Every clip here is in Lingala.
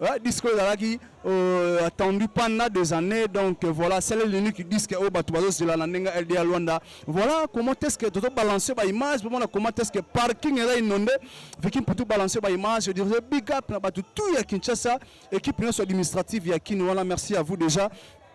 Ouais, disque ezalaki euh, attendu pendant des années donc euh, voilà c'est l'unique disque oyo bato bazozela na ndenge lda luanda voilà comment est-ce que toto balancer ba image bomona comment est-ce que parking eza inonde viki mputu balancer ba image je dirais big up na bato tout ya kinshasa équipe nyonso administrative ya kin wana merci à vous déjà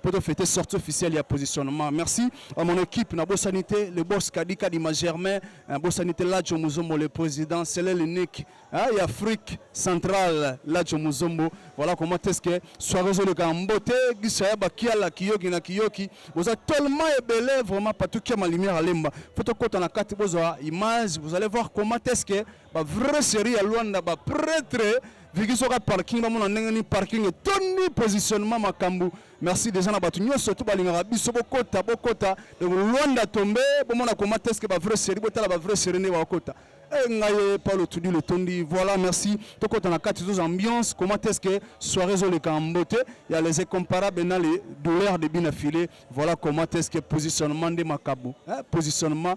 pour te fêter sortie officielle ya positionnement merci à mon équipe na bosani te le boss kadika di magermain hein, bosani te lajo muzombo le président selel unique hein, ya afrique centrale lajo muzombo voilà comment est-ce que soirée ezoleka mbote gisa ya bakiala kiyoki na kiyoki boza tellement ebele vraiment patukia ma lumière alemba faut tokota na kati bozwa image vous allez voir comment est-ce que ba vrai série ya Luanda ba prêtre viki soka parking bamona ndenge ni parking etondi positionnement makambo merci déjà na bato nyonso to balingaka biso bokota bokota donc Luanda tombe bomona koma teske ba vrai série botala ba vrai série nde bakokota Eh, ngai paulo tudi letondi voilà merci tokota na kati toza ambiance comment est-ce que soirée ezoleka en beauté ya les incomparable na les douleurs de bina filet voilà comment est-ce que positionnement nde makabo eh, positionnement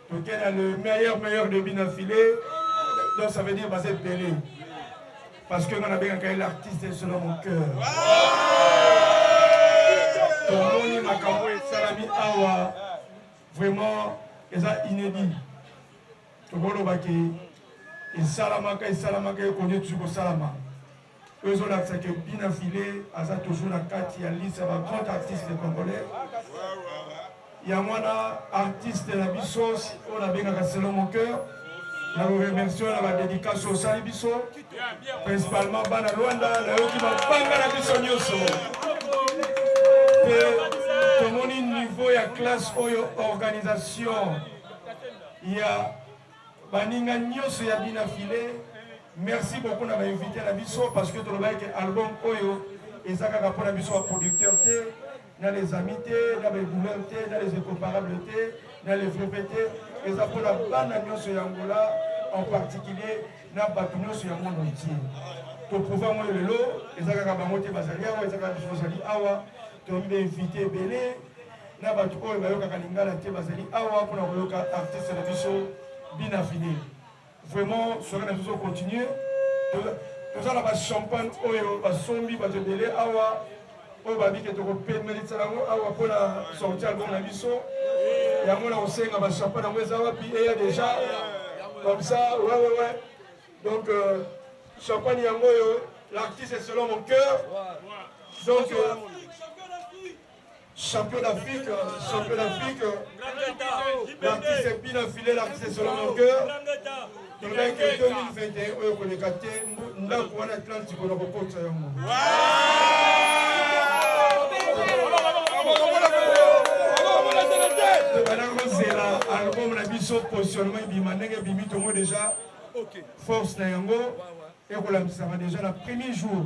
Toke na le meilleur meilleur de bina filet. Donc ça veut dire baza ebele. Parce que nga nabengaka ye l'artiste selon mon cœur. tomoni makambo esalami awa vraiment eza inédit tokoloba ke esalamaka esalamaka ekoni etusi kosalama oyo ezolakisa ke bina file aza toujours na kati ya liste ya ba grand artiste congolais yango wana artiste na biso oyo nabengaka selo mon cœur na koremercie na badedikasi osali biso principalement bana rwanda nayoki mabanga na biso nyonso mpe tomoni niveau ya classe oyo organisation ya baninga nyonso ya bina file merci beaucoup na bainvite na biso parce que tolobaki ke album oyo eza kaka mpo na biso baproducteur te na les amis te na baegouleur te na les incomparable te na les veve te eza mpo na bana nyonso ya angola en particulier na bato nyonso ya monde entier toprouve yango lelo eza kaka bango te bazali awa eza kaka biso tozali awa toyebi bainvite ebele na bato oyo bayokaka lingala te bazali awa mpona koyoka artiste na biso bina fide vraiment soki na biso continue toza na bachampagne oyo basombi bato ebele awa oyo babike tokopemelisa yango awa mpona sorti album na biso yango na kosenga bachampagne yango eza wapi eya deja comme ça ouais ouais ouais donc euh, champagne yango oyo l'artiste selon mon cœur donc euh, Champion d'Afrique, champion d'Afrique. L'artiste est bien affilé, l'artiste est sur la longueur. tolobaki 2021 oyo koleka te ndako wana atlantique oyo nakokotisa yango tobandaki kozela album na biso positionnement ebima ndenge ebimi tongo deja force na yango ekolamisaka deja na premier jour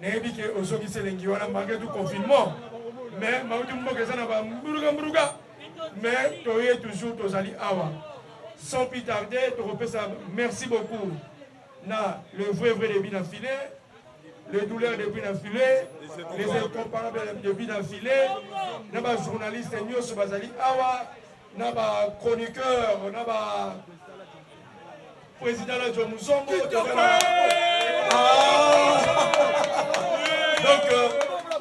nayebi ke ozongisi elengi wana malgre tout confinement mais mauti mboka eza na bamburuka mburuka mais toye toujours tozali awa sans plus tarder tokopesa merci beaucoup na le vrai vrai debut na filet les douleurs depuis na filet les incomparables depuis na filet na bajournaliste nyonso bazali awa na ba chroniqueur na ba président la John Musongo ah! donc euh,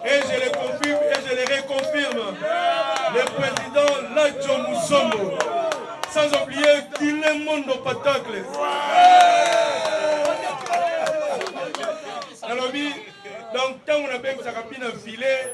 et je les confirme et je les reconfirme le président la John Musongo sans oublier qu'il est mon patacle nalobi donc ntango nabengisaka bino filet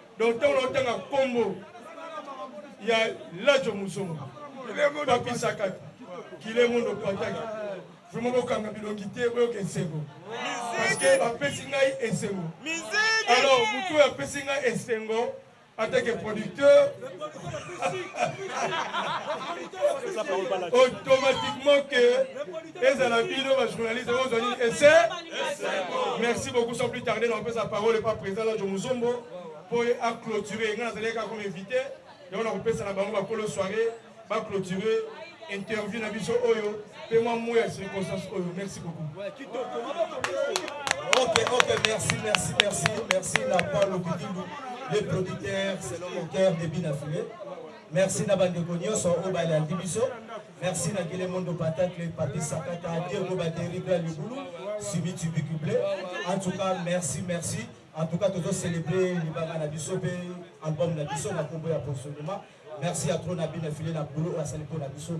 donc ntango naotanga nkombo ya lajo muzongo papi sakata kile mondo pataki vraimen bokanga bilongi te boyoka esengo parceke bapesi ngai esengo alors motu oyo apesi ngai esengo atake producteur automatiquement que ezala bino ba journaliste oyo ozali ese merci beaucoup sans plus tarder na kopesa parole epa président lajo muzombo mpo ye aclôture ngai nazalaki kaka comme invité yango na kopesa na bango bakolo soirée baclôture interview na biso oyo mpe mwa mo ya circonstance oyo merci beaucoup ok ok merci merci merci merci na paul okidindu le producteur selon mon cœur debit na filet Merci na bandeko nyonso oyo balandi biso. Merci na Gile Mondo Patacle, Papi Sakata, Diego Bateri, Bla Libulu, Simi Tubiku Bleu. En tout cas, merci, merci. En tout cas, tozo célébrer libanga na biso pe album na biso na kombo ya Posoloma. Merci à trop na bina filet na boulot asali po na biso.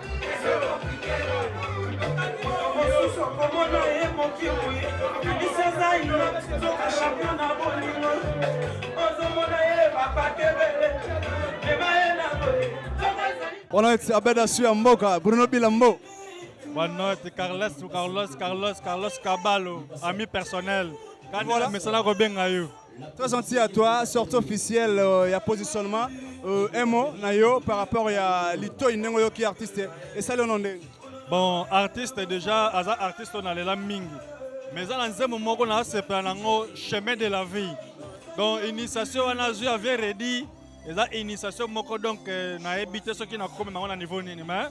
Boa noite, Abeda Suya Mboka, Bruno Bilambo. Boa noite, Carlos, Carlos, Carlos, Carlos Cabalo, ami personnel. Kani voilà. mesana kobenga yo Très gentil à toi, sortie officielle euh, ya positionnement euh, un mot na yo par rapport ya litoi ndenge oyoki artiste esali ono ndenge bon artiste déjà aza artiste oyo nalela mingi mais eza na nzembo moko nasepela nango chemin de la vie donc initiation wana azwi avie redi eza initiation moko donc euh, nayebi te soki nakomi nango na niveau nini mais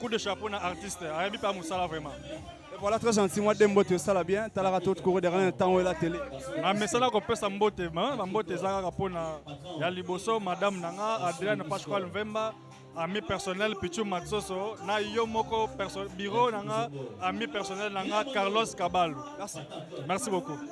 coup de chapeau na artiste ayebi mpe mosala vraiment Et voilà très gentil mwa de mbote osala bien talaka to tukoko derrière na ntango ela tele na mesana kopesa mbote ma bambote eza kaka mpo na ya liboso madame na nga adriane pasqual mvemba ami personnel pichu matsoso na yo moko perso- bureau na nga ami personnel na nga carlos kabalu merci beaucoup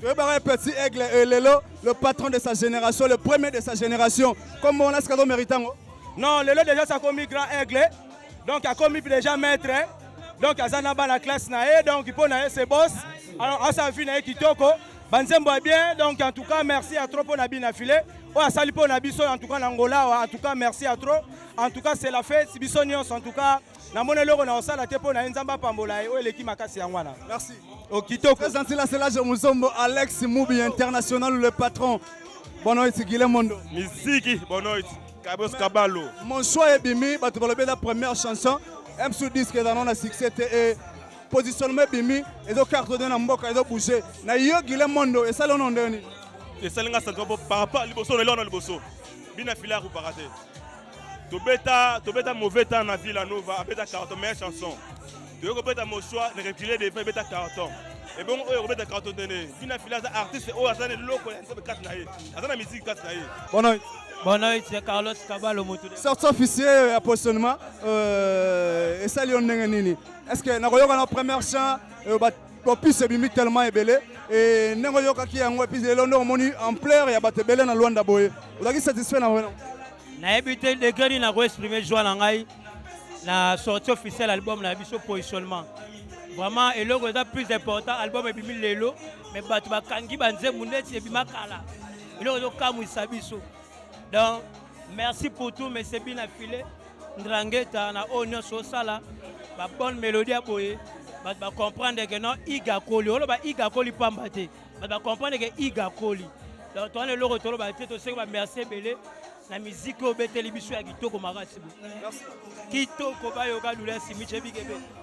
toyebaka ye petit aigle e lelo le patron de sa génération le premier de sa génération kombo wana sika tomérite yango non lelo déjà sakomi grand aigle donc akomi déjà maître donc aza na bana classe na ye donc mpo na ye se boss alors asala vi na ye kitoko banzembo ya bien donc en tout cas merci ya trop mpo na bina filet oyo asali mpo na biso en tout cas na ngolawa en tout cas merci ya trop en tout cas c'est la fête biso nyonso en tout cas namoni eloko na osala te mpo na ye nzambe apambola ye oyo eleki makasi yango wana merci okitoko oh, prezanti la selage muzombo alex mubi international le patron boa noite guilemondo miziki boa noite kabos kabalo mon choix ebimi bato balobi eza première chanson msu disque eza nona succès te e positionnement ebimi ezo cartonne na mboka ezo bouge na yo guilemondo esali ono ndeni esali nga santima mpo par rapport liboso na elona liboso bina fila ya kopaka te tobeta tobeta mauvais temps na villa nova abeta carton meilleure chanson toyei kobeta mosoi ne recule devant ebeta carton ebongo oyo akobeta carton tene bina fila aza artiste oyo aza na eloko ya nzambe kati na ye aza na miziki kati na ye bonoit bonoit ya carlos kabalo motu sorti officier ya positionnement euh, esali yo ndenge nini est ce que nakoyoka na première chant euh, bopise ebimi tellement ebele e, ndenge oyokaki yango epuis lelo nde omoni ampleur ya bato ebele na lwanda boye ozalaki satisfait na wena nayebi te ndenge nini nakoexprime joie na ngai na sortie officielle album na biso positionnement vraiment eloko eza plus important album ebimi lelo me bato bakangi banzembo ndeti ebima kala eloko ezokamwisa biso donc Merci pour tout, mais c'est bien affilé. Ndrangeta, na oyo nyonso osala, ba bonne mélodie ya boye, bato ba comprendre que non iga koli, oloba iga koli pamba te, bato ba comprendre que iga koli. Donc toana eloko toloba te, toseki ba merci ebele na miziki oyo obeteli biso ya kitoko makasi bo. Kitoko bayoka lula simiche bikebe.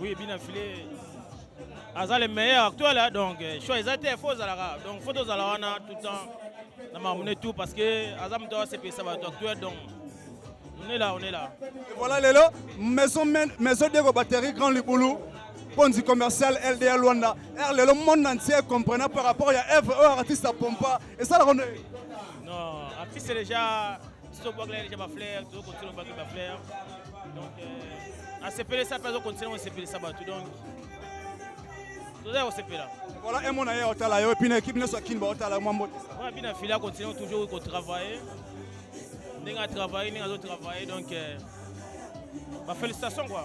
Oui, bien affilé. aza le meilleur actuel hein, donc euh, choix eza te fo ozalaka donc fo tozala wana tout temps na mamune tout parce que aza moto asepelisa bato actuel donc on est là on est là Et voilà lelo maison men- maison diego batterie grand libulu ponzi commercial lda luanda r lelo monde entier comprena par rapport ya evre oyo artiste apompa esalaka nde non artiste déjà Tito Bwagla ya deja ba fleurs, tozo continuer obaki ba fleurs. Donc euh, asepelisa mpe azo continuer kosepelisa bato donc tozali kosepela. Voilà un mona ye otala yo epuis na ekipe nyonso ya kin baotala yo mwa mbote. Wana bina fila continue toujours kotravailler ndenge atravaille ndenge azotravaille donc euh, ba félicitation quoi.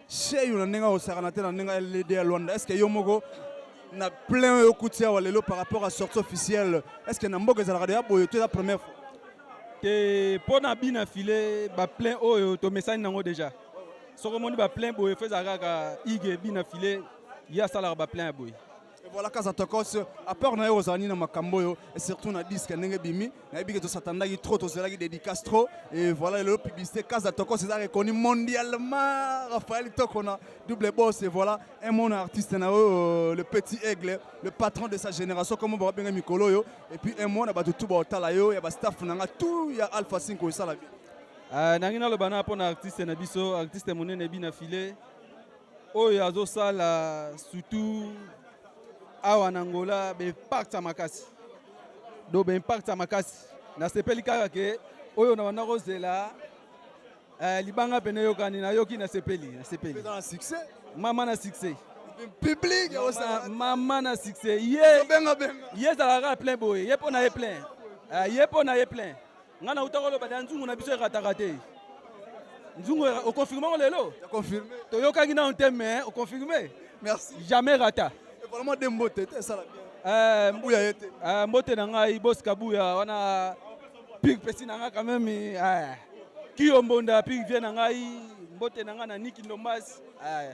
Cheyu na ndenge akosakana te na ndenge ya lede ya Luanda, est-ce que yo moko na plein oyo okuti awa lelo par rapport à sortie officielle, est-ce que na mboka ezalaka deja boye to eza première fois? te mpo na bi na file baplein oyo tomesani nango deja soki omoni baplein boye fo ezala kaka ige bi na file ye asalaka baplein ya boye Et voilà Kaza Tokos, à part nayo ozani na makambo yo et surtout na disque ndenge bimi, na yebi que to satandaki trop, to zelaki dédicace trop et voilà le publicité Kaza Tokos est reconnu mondialement Raphaël Tokona, double boss et voilà un mon artiste na euh, le petit aigle, le patron de sa génération comme ba benga mikolo yo et puis un mon na batu tout ba otala yo ya ba staff na nga tout ya Alpha 5 osala bien. Euh, nangi naloba na pona artiste na biso, artiste monene bina filet oyo azosala surtout awa na Angola b'impact ya makasi do b'impact ya makasi nasepeli kaka ke oyo nabanda kozela eh, libanga pene eyokani nayoki nasepeli nasepeli mama na succès public mama na succès ye ye ezalaka plein boye ye mpo na ye plein eh, ye mpo na ye plein Nga na utaka loba na nzungu na biso erataka te. Nzungu o confirme ngo lelo? Ya confirme. To yokaki na te mais o confirme. Merci. Jamais rata. Et vraiment de mbote te sala bien. Euh mbuya yete. Euh mbote na ngai boss kabuya wana pig pesi na ngai quand même euh. Kiyo mbonda pig vient na ngai mbote na ngai na Niki Ndombas. Euh.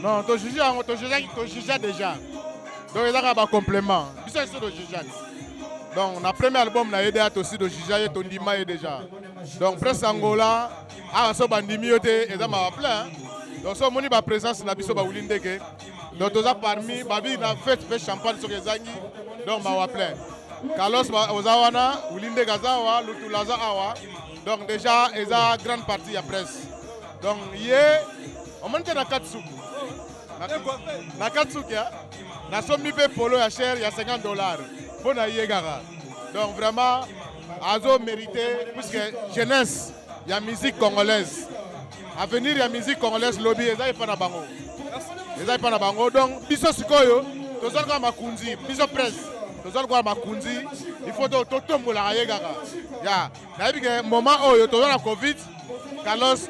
Non, to juge yango to juge to juge déjà. Donc ezaka ba complément. Biso iso to juge. Donc na premier album na yede to si to juge ye to ndima ye déjà. Donc presse Angola a so bandimi yo te eza ma plein. Donc so moni ba présence na biso ba wuli ndeke. Donc toza parmi ba bi na fête fait champagne soki ezangi. Donc ma wa plein. Carlos oza wana wuli ndeke aza wa lutu laza awa. Donc déjà eza grande partie ya presse. Donc ye yeah, omoni te na kati suki na kati suki nasombi mpe polo ya chere ya 50 dollar mpo na ye kaka donc vraiment azo mérité puisque jeunesse ya musique congolaise avenir ya musique congolaise lobi eza epa na bango eza epa na bango donc biso sikoyo tozali kaka makunzi biso presse tozali kaka makunzi il faut totombolaka ye kaka ya nayebi ke moment oyo toza na covid carlos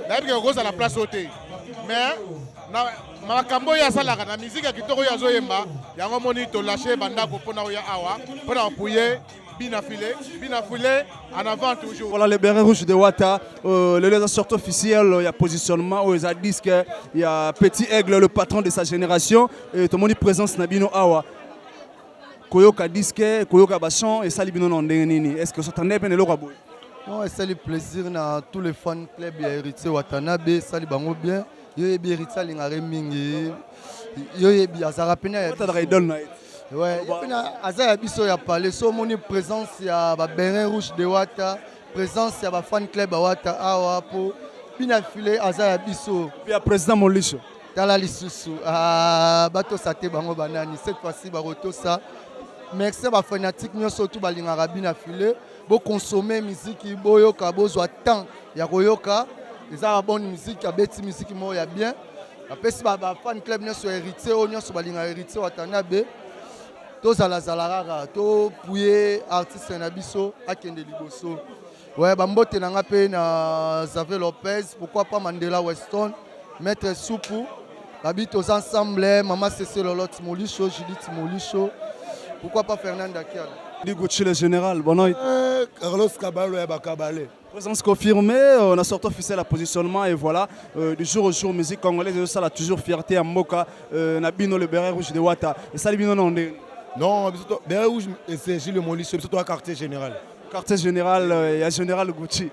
nayebi ke okozala place oyo te mais na makambo oyo asalaka na miziki ya kitoko oyo azoyemba yango omoni tolashe bandako mpo na oya awa mpo na kopuye bina file bina file en avant toujours voilà le beret rouge de wata euh, lelo eza sorte officielle ya positionnement oyo eza disque ya petit aigle le patron de sa génération et tomoni présence na bino awa koyoka disque koyoka ba son esali bino na ndenge nini est ce que s'attendait pe na eloko boye non esali plaisir na tous les fans club ya héritier watanabe esali bango bien yo yebi héritier alingaka ye mingi yo yebi azalaka pena ya idole na ye ouais pena aza ya biso ya palais so omoni présence ya ba berin rouge de wata présence ya ba fan club ya wata awa po bina file aza ya biso ya président molisho tala lisusu ah, batosa te bango banani cette fois-ci bakotosa merci ya bafanatique nyonso tu balingaka bina file bokonsome miziki boyoka bozwa temps ya koyoka eza ba bonne miziki abeti miziki moko ya bien apesi bafan club nyonso ya héritier oyo nyonso balingaka héritier watanabe tozalazala kaka topuye artiste na biso akende liboso Ouais, ba mbote na nga pe na Xavier Lopez, pourquoi pas Mandela Weston, Maître Soupu, babi tous ensemble, eh, Mama Cécile Lolotte Molisho, Judith Molisho, pourquoi pas Fernanda Kiala. Digo Chile Général, bonne nuit. Eh, Carlos Caballo ya Bakabale. Présence confirmée, euh, on a sorti officiel à positionnement et voilà, euh, du jour au jour, musique congolaise, et ça la toujours fierté à Mboka, euh, Nabino le béret rouge de Wata. Et ça, les Bino, non, on est- Non, biso to- Beret Rouge, et c'est Gilles Molisho, biso to ya quartier général. quartier général euh, ya général gucci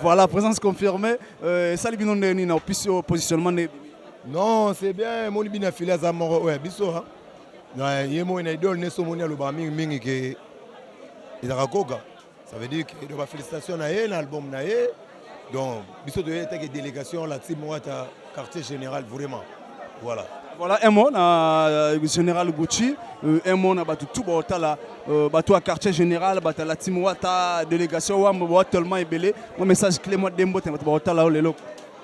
voilà présence confirmée euh, esali bino ndenge nini na opisi oyo positionnement nde non c'est bien emoni bino afili aza moko oyo ya biso ye moi na idole neso omoni alobaka mingi mingi ke ezaka koka ça veut dire ke donc bafélicitation na ye na album na ye donc biso toyei atake délégation la team wata quartier général vraiment voilà voilà un mot na euh, général gucci euh, un mot na bato tout baotala euh, bato ya quartier général bato ya la team wata délégation wambo bawa tellement ebele mwa message clé mwa dembo te bato baotala yo lelo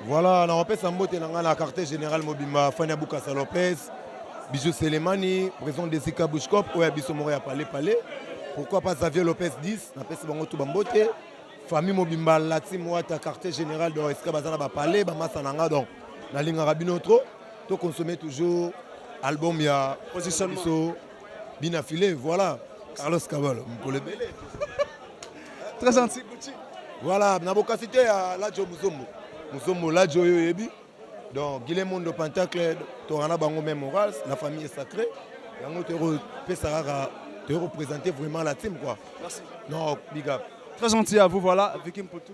voilà nakopesa mbote na ngai na quartier général mobimba fani ya bukasa lopez bijou selemani président de sika bushcop oyo ya biso moko ya pale pale pourquoi pas xavier lopez 10 napesi bango tu bambote famille mobimba lati moata quartier général donc esika baza na bapale bamasa na nga donc nalingaka bino trop to consomme toujours album ya biso bina file voilà carlos kabalo mokolo ebele très gentil voilà na bokasi te ya lajo muzombo muzombo lajo oyo oyebi donc guile mondo pentacle toka na bango meme morale la famille est sacrée yango tokopesa kaka tokopresente vraiment la team quoi merci non big up très gentil à vous voilà vikim potou